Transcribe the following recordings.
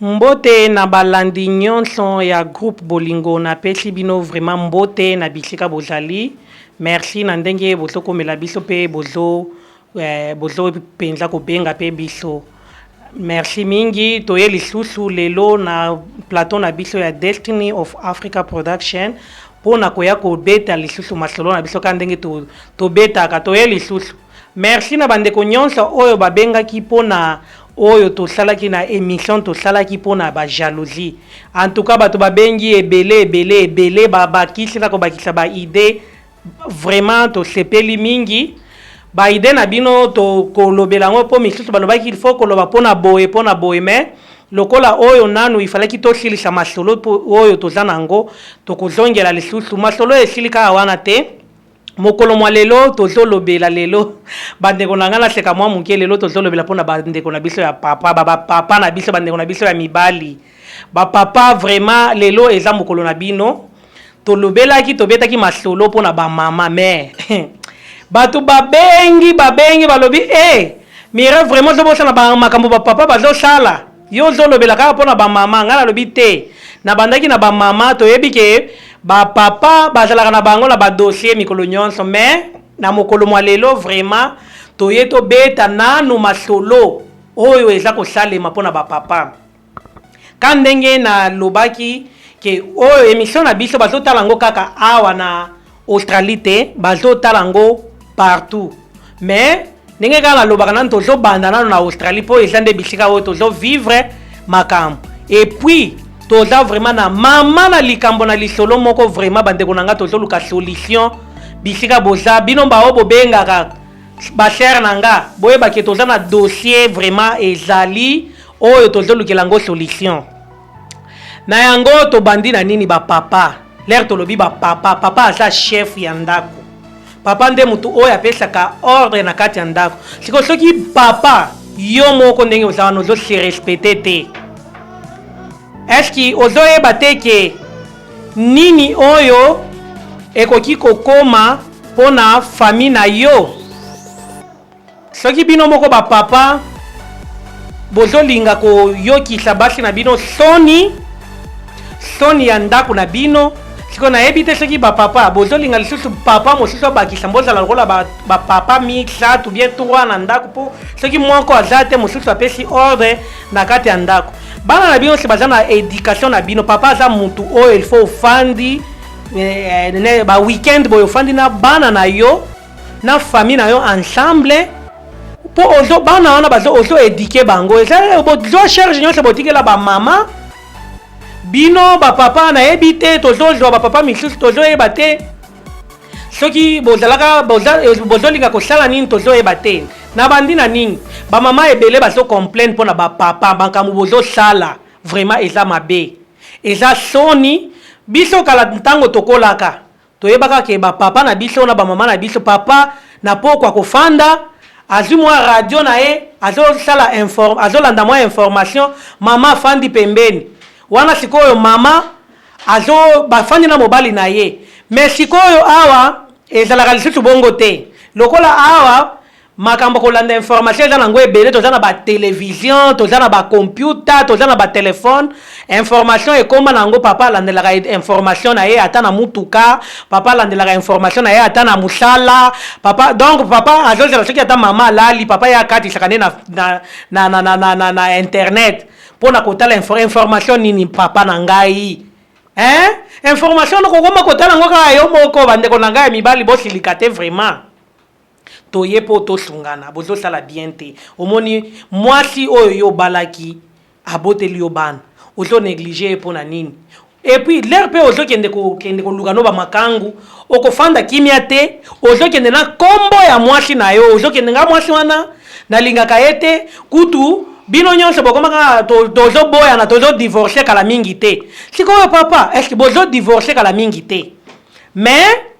mbote na balandi nyonso ya groupe bolingo napesi bino vraiment mbote na bisika bozali merci na ndenge bozokomela biso mpe bozo Eh, bozobi mpenza kobenga mpe biso. Merci mingi, toye lisusu lelo na plateau na biso ya Destiny of Africa Production mpo na koya kobeta lisusu masolo na biso kaka ndenge to, tobetaka. Toye lisusu. Merci na bandeko nyonso oyo babengaki mpo na oyo tosalaki na emission tosalaki mpo na ba jalousie. En tout cas bato babengi ebele ebele ebele babakisi na kobakisa ba idee Vraiment tosepeli mingi ba idee na bino tokolobela yango mpo misusu balobaki il faut koloba mpo na boye mpo na boye mais lokola oyo nanu ifalaki tosilisa masolo oyo toza na yango tokozongela lisusu masolo oyo esili kaka wana te mokolo mwa lelo tozolobela lelo bandeko na ngai naseka mwa moke lelo tozolobela mpo na bandeko na biso ya papa baba papa na biso bandeko na biso ya mibali Ba papa vraiment lelo eza mokolo na bino tolobelaki tobetaki masolo mpo na ba mama mais bato babengi babengi balobi e eh, mire vraiment ozobosana makambo ba papa bazosala yo ozolobela kaka mpo na ba mama ngai nalobi te nabandaki na ba mama toyebi ke ba papa bazalaka na bango na ba dossier mikolo nyonso mais na mokolo mwa lelo vraiment toye tobeta nanu masolo oyo eza kosalema mpo na ba papa Ka ndenge na lobaki ke oyo emission na biso bazo tala ngo kaka awa na Australie te bazo tala ngo partout mais ndenge kaka nalobaka nanu tozo banda nanu na Australie po eza nde bisika oyo tozo vivre makambo et puis toza vraiment na mama na likambo na lisolo moko vraiment bandeko na nga tozoluka solution bisika boza bino baoyo bobengaka basere na nga boyebake toza na dossier vraiment ezali oyo tozolukela yango solution na yango tobandi na nini bapapa lere tolobi bapapa papa aza chef ya ndako papa nde motu oyo apesaka ordre na kati ya ndako siko soki papa yo moko ndenge oza wana ozo se respecte te eske ozoyeba te ke nini oyo ekoki kokoma mpo na fami na yo Soki bino moko ba papa bozolinga koyokisa basi na bino soni soni ya ndako na bino sikoyo nayebi te soki bapapa bozolinga lisusu papa mosusu abakisa bozala lokola bapapa misato bien trois na ndako mpo soki moko aza te mosusu apesi ordre na kati ya ndako bana na bino nyonso baza na education na bino papa aza motu oyo ilfaut ofandi eh, eh, ba weekend boye ofandi na bana na yo na famille na yo ensemble mpo ozo bana wana bazo ozo edike bango eza bozo charge nyonso botikela bamama bino bapapa nayebi te tozozwa bapapa misusu tozoyeba te soki bozalaka bozolinga kosala nini tozoyeba te na bandi na nini bamama ebele bazo complaine mpo na bapapa makambo bozosala vraiment eza mabe eza soni biso kala ntango tokolaka Toyebaka ke ba papa na biso na ba mama na biso papa na pokwa ako fanda azui mwa radio na ye azo sala inform azo landa mwa information mama afandi pembeni wana sikoyo mama azo ba fandi na mobali na ye mais sikoyo awa ezalaka lisusu bongo te lokola awa Makambo kolanda information eza nango ebele toza na ba television toza na ba computa toza na ba telephone information ekoma na yango papa alandelaka information na ye ata na mutuka papa alandelaka information na ye ata na mosala papa donc papa azozela soki ata mama alali papa ye akatisaka nde na, na, na, na, na, na, na, na internet mpo na kotala info, information nini papa na ngai eh? information nokokoma kotala yango kaka yo moko bandeko na ngai ya mibali bosilika te vraiment Toye po to sungana bozo sala bien te omoni muasi oyo yo obalaki aboteli yo bana ozo neglige ye pona nini epuis lheure pe ozo kende ko kende ko luka no ba makangu oko fanda kimia te ozo kende na kombo ya muasi na yo ozo kende nga muasi wana na lingaka ye te kutu bino nionso bokoma kaka to tozo boyana tozo divorce kala mingi te sikoyo papa est ce que bozo divorce kala mingi te mais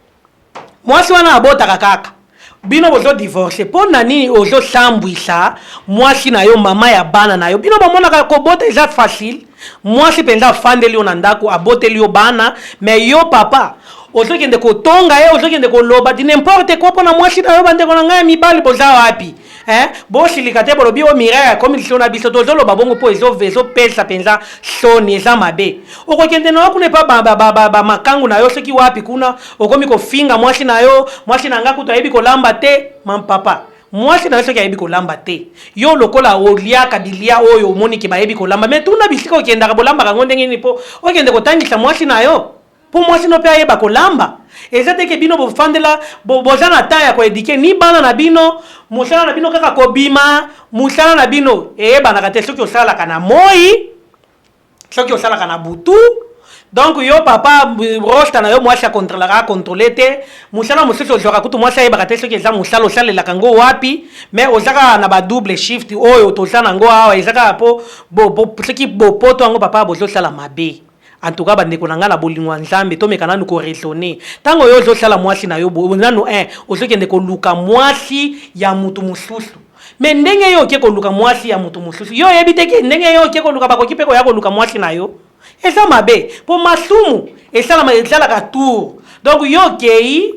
Mwasi wana abotaka kaka. Bino bozo divorce pona nini ozo sambwisa mwasi na yo maman ya bana na yo bino bomonaka kobota eza facile mwasi penza afandeli yo na ndaku aboteli yo bana mais yo papa ozokende kotonga ye ozokende koloba di n'importe quoi pona mwasi na yo bandeko na ngai ya mibali boza wapi Eh, bosilika te bolobi oyo mirai akomi lisolo na biso tozoloba bongo mpo ezopesa mpenza soni eza mabe okokende na yo kuna epa bamakangu na yo soki wapi kuna okomi kofinga mwasi na yo mwasi na ngai kutu ayebi kolamba te mampapa mwasi na yo soki ayebi kolamba te yo lokola oliaka bilia oyo omoniki bayebi kolamba me tuna bisika okendaka bolambaka yango ndenge nini mpo okende kotangisa mwasi na yo Po mwasi no pe ayeba ko lamba. Eza te ke bino bo fandela bo boza na temps ya ko eduquer ni bana na bino, musala na bino kaka ko bima, musala na bino eyebanaka te soki osalaka na moyi, soki osalaka na butu, donc yo papa rosta na yo mwasi a controlaka a controler te, musala mususu ozwaka kutu mwasi ayebaka te soki eza musala osalelaka ngo wapi, mais oza kaka na ba double shift oyo toza na ngo awa eza kaka po bo soki bo poto yango papa bozo sala mabe. En tout cas bandeko na nga na bolingo ya Nzambe tomeka nanu ko raisonner. Tango yo ozo sala muasi na yo boye nanu eh ozo kende koluka muasi ya mutu mususu mais ndenge yo oke koluka muasi ya mutu mususu yo oyebi te ke ndenge yo oke koluka bakoki pe koya koluka muasi na yo eza mabe po masumu esalama ezalaka tour donc yo okeyi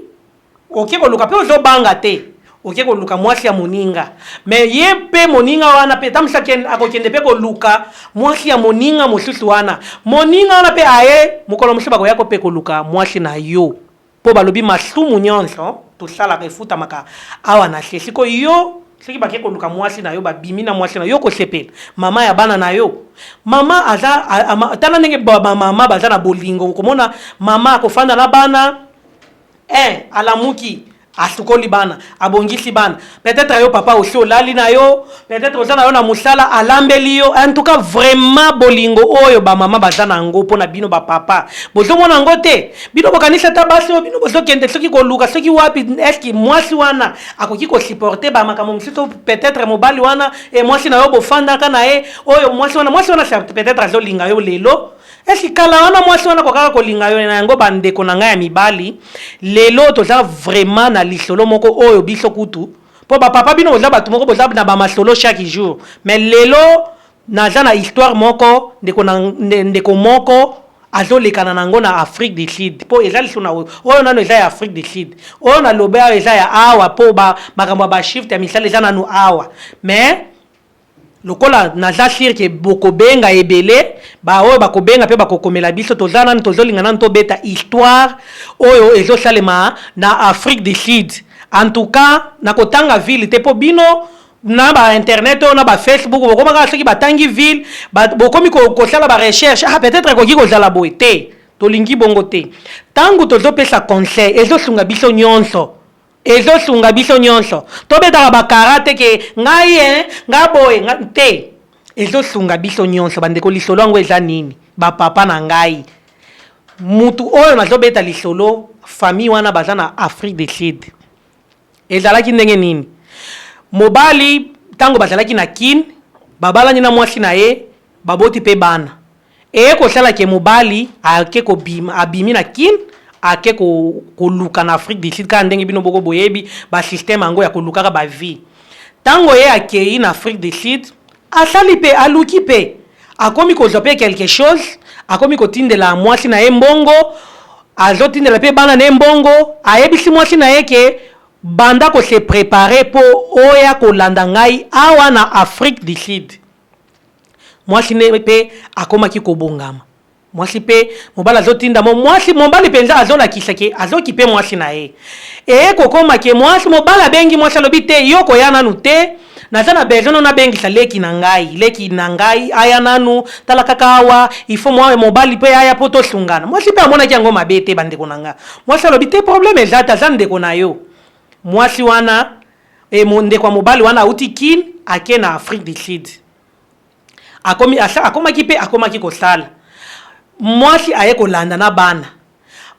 Oke koluka pe ozo banga te oke koluka muasi ya moninga mais ye pe moninga wana pe tamusa akokende pe koluka muasi ya moninga mosusu wana moninga wana pe aye mokolo mosusu bakoya ko pe koluka muasi na yo po balobi masumu nionso tosalaka efutamaka awa na se siko yo soki bake koluka muasi na yo babimi na muasi na yo okosepela mama ya bana na yo mama aza tala ndenge ba mama baza na bolingo okomona mama akofanda na bana Eeh alamuki asukoli bana abongisi bana peut etre yo papa osi olali na yo peut etre oza na yo na musala alambeli yo en tout cas vraiment bolingo oyo ba mama baza na yango pona bino ba papa bozo mona yango te bino bokanisi ata basi oyo bino bozo kende soki koluka soki wapi eski mwasi wana akoki ko supporter ba makambo mosusu peut etre mobali wana e mwasi na yo bofandaka na ye oyo mwasi wana mwasi wana peut etre azolinga yo lelo Est-ce que kala wana mwasi wana akokaka kolinga yo? Na yango ba ndeko na ngai ya mibali, lelo toza vraiment na lisolo moko oyo biso kutu, po ba papa bino boza batu moko boza na ba masolo chaque jour, mais lelo naza na histoire moko ndeko na ndeko moko azo lekana na yango na Afrique du Sud, po eza lisusu na oyo, oyo nanu eza ya Afrique du Sud, oyo na lobi awa eza ya awa po ba makambo ya ba shift ya misala eza nanu awa, mais Lokola naza sur que bokobenga ebele ba oyo bakobenga pe bakokomela biso toza nanu tozolinga nanu tobeta histoire oyo ezosalema na afrique du sud en tout cas nakotanga ville te po bino na ba internet oyo na ba facebook bokoma kaka soki batangi ville bokomi kosala ba recherche ah peut-etre ekoki kozala boye te tolingi bongo te tangu tozopesa conseil ezosunga biso nionso Ezo sunga biso nionso to betaka ba kara te ke ngai eh nga boye nga te ezo sunga biso nionso ba ndeko lisolo yango eza nini ba papa na ngai mutu oyo nazo beta lisolo famille wana baza na Afrique du Sud ezalaki ndenge nini mobali tango bazalaki na kin babalani na mwasi na ye baboti pe bana Eye kosala ke mobali ake kobima abimi na kin ake ko koluka na Afrique du Sud kaka ndenge bino boko boyebi ba système yango ya kolukaka ba vie. Tango ye akeyi na Afrique du Sud asali pe aluki pe akomi kozwa pe quelque chose akomi kotindela mwasi na ye mbongo azotindela pe bana na ye mbongo ayebisi mwasi na ye ke banda ko se preparer po oya kolanda ngai awa na Afrique du Sud. Mwasi nde pe akomaki kobongama. Mwasi pe mobali azotinda mo, mwasi, mobali penza azolakisa ke azokipe mwasi na ye. Eye kokoma ke mwasi, mobali abengi mwasi alobi, Te, yo koya nanu te, naza na besoin no nabengisa leki na ngai, leki na ngai aya nanu, tala kaka awa, il faut mwa, mobali pe aya po tosungana. Mwasi pe amonaki yango mabe te, bandeko na nga. Mwasi alobi, Te, probleme eza te, aza ndeko na yo. Mwasi wana. Et mon ndeko ya mobali wana awuti Kin ake na Afrique du Sud. Akomi asa akomaki pe akomaki kosala. Mwasi aye kolanda na bana.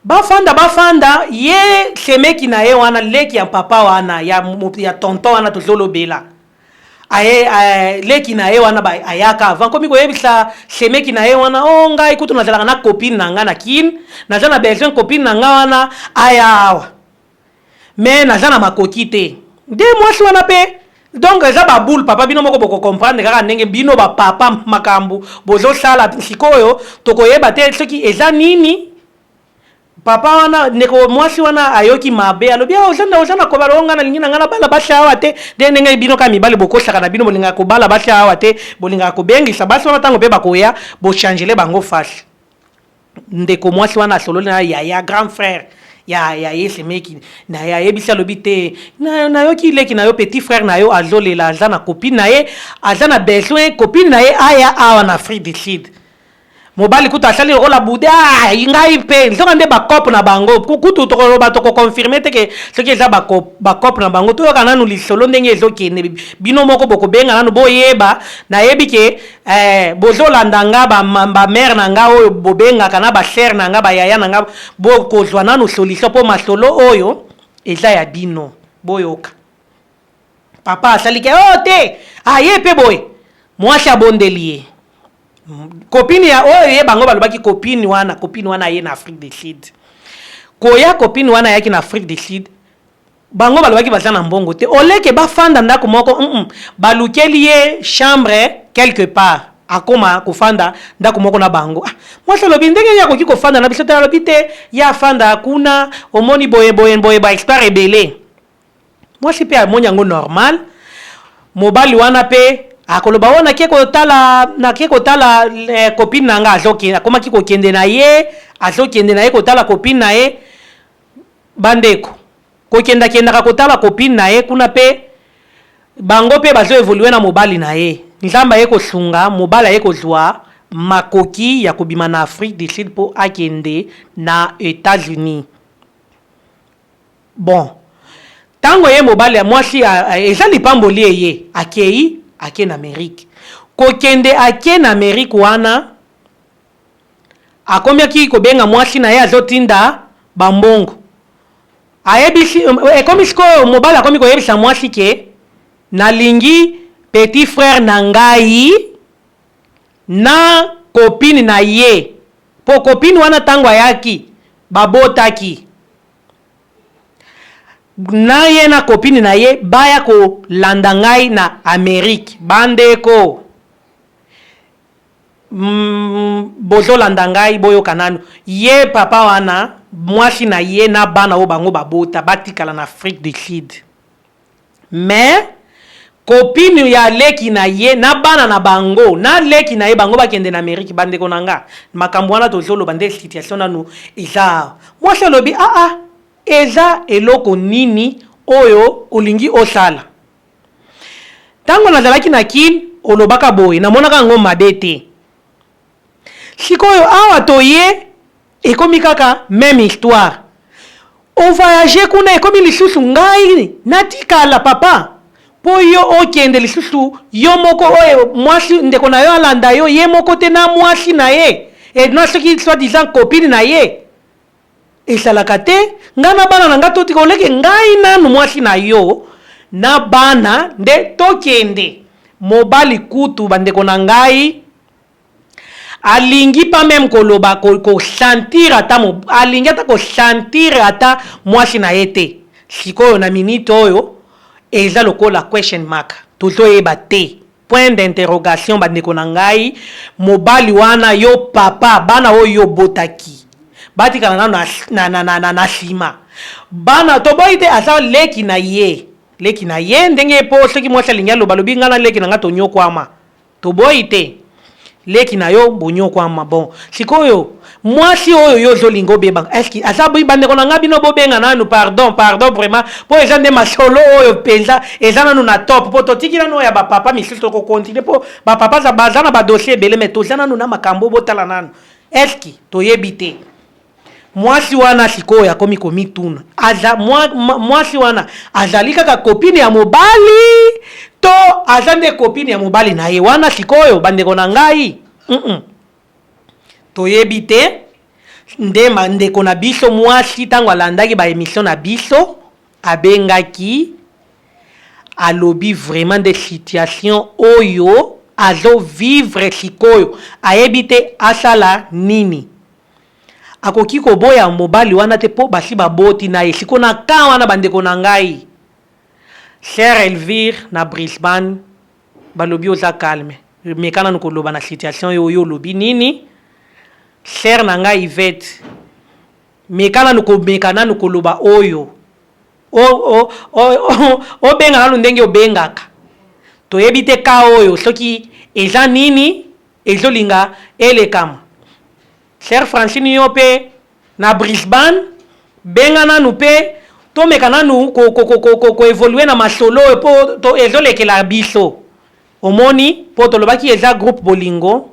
Ba fanda ba fanda ye semeki na ye wana leki ya papa wana ya ya tonton wana tozolobela. Aye eh, leki na ye wana ba ayaka avant komi koyebisa semeki na ye wana oh ngai kutu nazalaka na copine na ngai na Kin naza na besoin copine na ngai wana aya awa. mais naza na makoki te nde mwasi wana pe donc eza ba boule papa bino moko boko comprendre kaka ndenge bino ba papa makambu bozo sala sikoyo toko yeba te soki eza nini papa wana ndeko mwasi wana ayoki mabe alobi ah, oza na oza na kobala onga nalingi na ngai nabala basi awa te nde ndenge bino kaka mibali bokosaka na bino bolingaka kobala basi awa te bolingaka kobengisa basi wana ntango mpe bakoya bochangele bango fasi Ndeko mwasi wana asololi na yaya grand frère ya ya ye semeki na ya yebisi alobi te na na yo ki leki na yo petit frère na yo azolela aza na copine na ye aza na besoin copine na ye aya awa na Afrique du Sud mobali kutu asali lokola bude ah, ngai mpe nzoka nde bakope na bango kutu tokoloba tokokonfirme te ke soki eza bakope na bango toyoka nanu lisolo ndenge ezokende bino moko bokobenga nanu boyeba nayebi ke Eh bozo landa nga ba ba mère na nga oyo bobengaka na ba sœur na nga ba yaya na nga bo kozwa nanu solution po masolo oyo eza ya bino boyoka papa asali ke oh te aye pe boye mwasi abondeli ye kopini ya oyo ye bango balobaki kopini wana kopini wana aye na afrique du sud koya kopini wana ayaki na afrique du sud Bango balobaki baza na mbongo te au lieu que ba fanda ndaku moko humm balukeli ye chambre quelque part akoma kofanda ndaku moko na bango ah mwasi alobi ndenge nini akoki kofanda na biso te alobi te ye afanda kuna omoni boye boye boye ba expert ebele mwasi pe amoni yango normal mobali wana pe akoloba oyo nake kotala nake kotala eh, copine na nga azokende akomaki kokende na ye azokende na ye kotala copine na ye Bandeko. Kokenda kendaka kotala copine naye kuna pe bango pe bazo evolue na mobali naye. Nzambe aye kosunga mobali aye kozua makoki ya kobima na Afrique du Sud po akende na Etats Unis. Bon. Tango ye mobali mwasi eza lipamboli eye akeyi ake na Amerique. Kokende ake na Amerique wana. Akomiaki kobenga mwasi naye azo tinda ba mbongo ayebisi ekomi sikoyo mobali akomi koyebisa mwasi ke nalingi petit frère na ngai na copine na ye po copine wana tango ayaki babotaki na ye na copine na ye baya kolanda ngai na Amerique bandeko Hum bozo landa ngai boyoka nanu ye papa wana mwasi na ye na bana oyo bango ba bota ba tikala na afrique du sud mais copine ya leki na ye na bana na bango na leki na ye bango ba kende na amerique ba ndeko na nga makambu wana tozo loba nde situation nanu eza awa mwasi alobi ah ah eza eloko nini oyo olingi osala Tango nazalaki na kin olobaka boye namonaka yango mabe te sikoyo awa toye ekomi kaka meme histoire o voyage kuna ekomi lisusu ngai natikala papa po yo okende lisusu yo moko oyo mwasi ndeko na yo alanda yo ye moko te na mwasi na ye et na soki soit disant copine na ye Esalaka te nga na bana na nga totika oleke ngai nanu mwasi na yo na bana nde tokende mobali kutu ba ndeko na ngai alingi pas meme koloba ko, ko sentir ata mo, alingi ata ko sentir ata mwasi na ye te sikoyo na minute oyo eza lokola question mark tozoyeba te Point d'interrogation ba ndeko na ngai, mobali wana yo papa bana oyo yo obotaki batikala nanu na, na, na, na, na, na sima bana toboyi te aza leki na ye leki na ye ndenge ye po soki mwasi alingi aloba lobi ngai na leki na ngai tonyokwama toboyi te Leki na yo boniokuama bon sikoyo muasi oyo yo ozo linga obeba est ce aza ba ndeko na nga bino bo benga nanu pardon pardon vraiment po eza nde masolo oyo penza eza nanu na top po to tiki nanu oyo ya ba papa misusu toko continue po ba papa za baza na ba dossier ebele mais toza nanu na makambo bo tala nanu est ce toyebi te Mwasi wana sikoyo akomi komituna, aza, mwa, mwa, mwasi wana azali kaka copine ya mobali to aza nde copine ya mobali na ye? Wana sikoyo, bandeko na ngai, mm -mm. toyebi te nde ndeko na biso mwasi ntango alandaki baemisio na biso abengaki alobi vraiment nde situation oyo azovivre sikoyo ayebi te asala nini Akoki koboya mobali wana te po basi baboti naye sikoyo na camp wana ba ndeko na ngai soeur Elvire na Brisbane balobi oza calme meka nanu koloba na situation yo yo olobi nini soeur na ngai Yvette meka nanu komeka nanu koloba oyo o o o obenga nanu ndenge obengaka toyebi te cas oyo soki eza nini Ezo linga elekama. Sœur Francine yo pe na Brisbane benga nanu pe tomeka nanu ko evoluer na masolo oyo po ezo lekela biso omoni po tolobaki eza groupe bolingo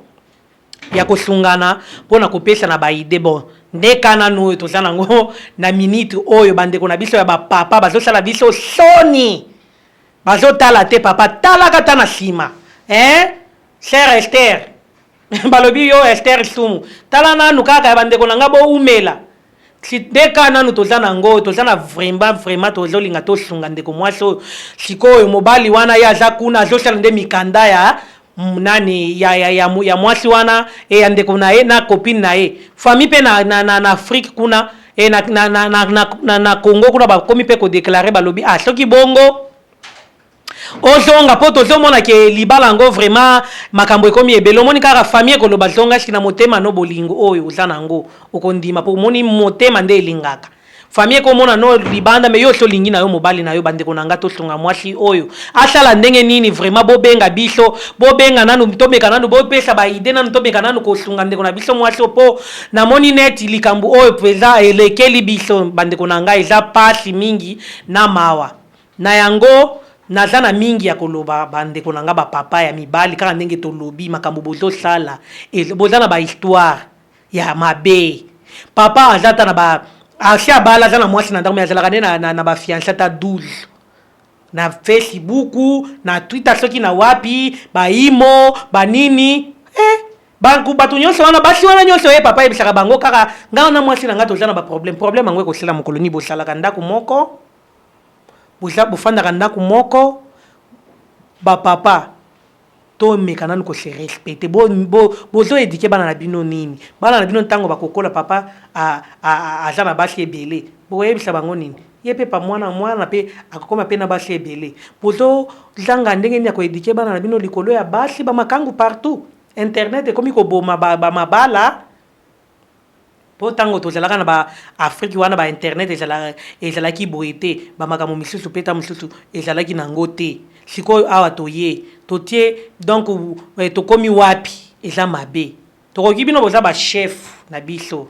ya kosungana pona kopesana ba idee bon nde cas nanu oyo toza nango na minute oyo bandeko na biso ya ba papa bazo sala biso soni Bazo tala te papa tala ka ta na sima eeh sœur Esther balobi yo Esther sumu tala nanu kaka ya bandeko na nga bo umela nde ka nanu toza na ngo toza na vremba vrema tozo linga to sunga ndeko mwasi oyo sikoyo mobali wana ye aza kuna azo sala nde mikanda ya nani ya, ya, ya, ya mwasi wana e ya ndeko na ye na copine na ye famille mpe na, na, na, na afrique kuna e na, na, na, na, na, na, na congo kuna bakomi mpe kodeklare balobi ah soki bongo ozonga mpo tozomona ke libala yango vraiment makambo ekomi ebele omoni kaka famille ekoloba zonga ski na motema no bolingo oyo oza na yango okondima mpo omoni motema nde elingaka Famille eko mona no libanda mais yo osi olingi na yo mobali na yo ba ndeko na nga to sunga mwasi oyo asala ndenge nini vraiment bo benga biso bo benga nanu to meka nanu bo pesa ba idee nanu to meka nanu ko sunga ndeko na biso mwasi oyo po na moni neti likambu oyo peza elekeli biso ba ndeko na nga eza pasi mingi na mawa na yango naza na mingi ya ko loba ba ndeko na nga ba papa ya mibali kaka ndenge to lobi makambu bozo sala boza na ba histoire ya mabe papa aza ata na ba asi abala aza na mwasi na ndako me azalaka nde na, na, na bafiance ata 12 na facebook na twitter soki na wapi baimo banini eh, banku bato nyonso wana basi wana nyonso ye eh, papa ayebisaka bango kaka ngai wana mwasi na ngai toza na baproblème problème yango ekosila mokolo nini bosalaka ndako moko boza bofandaka ndako moko bapapa To meka nanu ko se respecter. Bo bo bozo eduquer bana na bino nini? Bana na bino tango bako kola papa a a aza na basi ebele boko yebisa bango nini? Ye pe pa muana muana pe ako koma pe na basi ebele. Bozo zanga ndenge nini ya ko eduquer bana na bino likolo ya basi ba makangu partout. Internet ekomi ko boma ba ba mabala. Po tango tozalaka na ba Afrique wana ba internet ezalaki boye te ba makambo misusu pe tango misusu ezalaki na yango te sikoyo awa toye totie donc tokomi wapi eza mabe tokoki bino boza ba chef na biso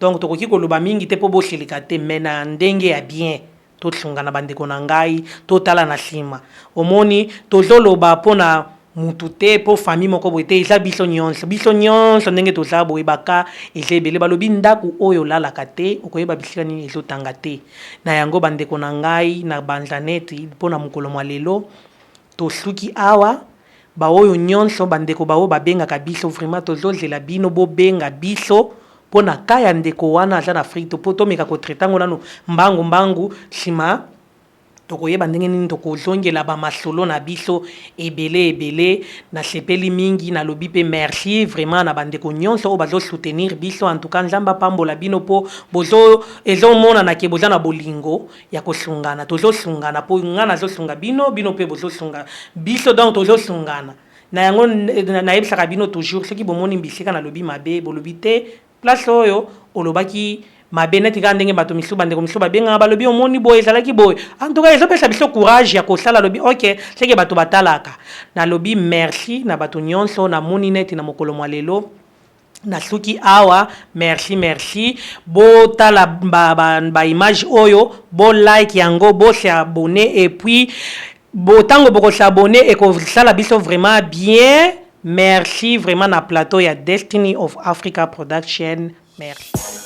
donc tokoki koloba mingi te po bosilika te mais na ndenge ya bien Totlngana ba ndeko na ngai, totala na sima. Omoni, tozo loba po na mutu te, po famille moko boye te, eza biso nionso. Biso nionso ndenge toza boye, ba cas eza ebele. Balobi ndaku oyo olalaka te, okoyeba bisika nini ezo tanga te. Na yango ba ndeko na ngai, na banza neti po na mokolo mua lelo, tosuki awa. Baoyo nionso bandeko baoyo babengaka biso vraiment tozozela bino bobenga biso po na cas ya ndeko wana aza na Afrique to po tomeka ko traiter yango nanu mbangu mbangu sima tokoyeba ndenge nini tokozongela ba masolo na biso ebele ebele nasepeli mingi nalobi pe merci vraiment na bandeko nionso oyo bazo soutenir biso en tout cas nzambe apambola bino po bozo ezomonana ke boza na bolingo ya kosungana tozo sungana po nga nazo sunga bino bino pe bozo sunga biso donc tozo sungana na yango nayebisaka bino toujours soki bomoni mbisika nalobi mabe bolobi te place oyo olobaki mabe neti kaka ndenge bato misusu bandeko misusu babengaka balobi omoni boye ezalaki boye en tout cas ezopesa biso courage ya kosala alobi ok seke bato batalaka nalobi merci na bato nyonso namoni neti na mokolo mwa lelo Nasuki awa merci merci bo tala ba ba ba image oyo bo like yango bo se abonner et puis bo tango boko s'abonner et ko sala biso vraiment bien merci vraiment na plateau ya destiny of Africa production merci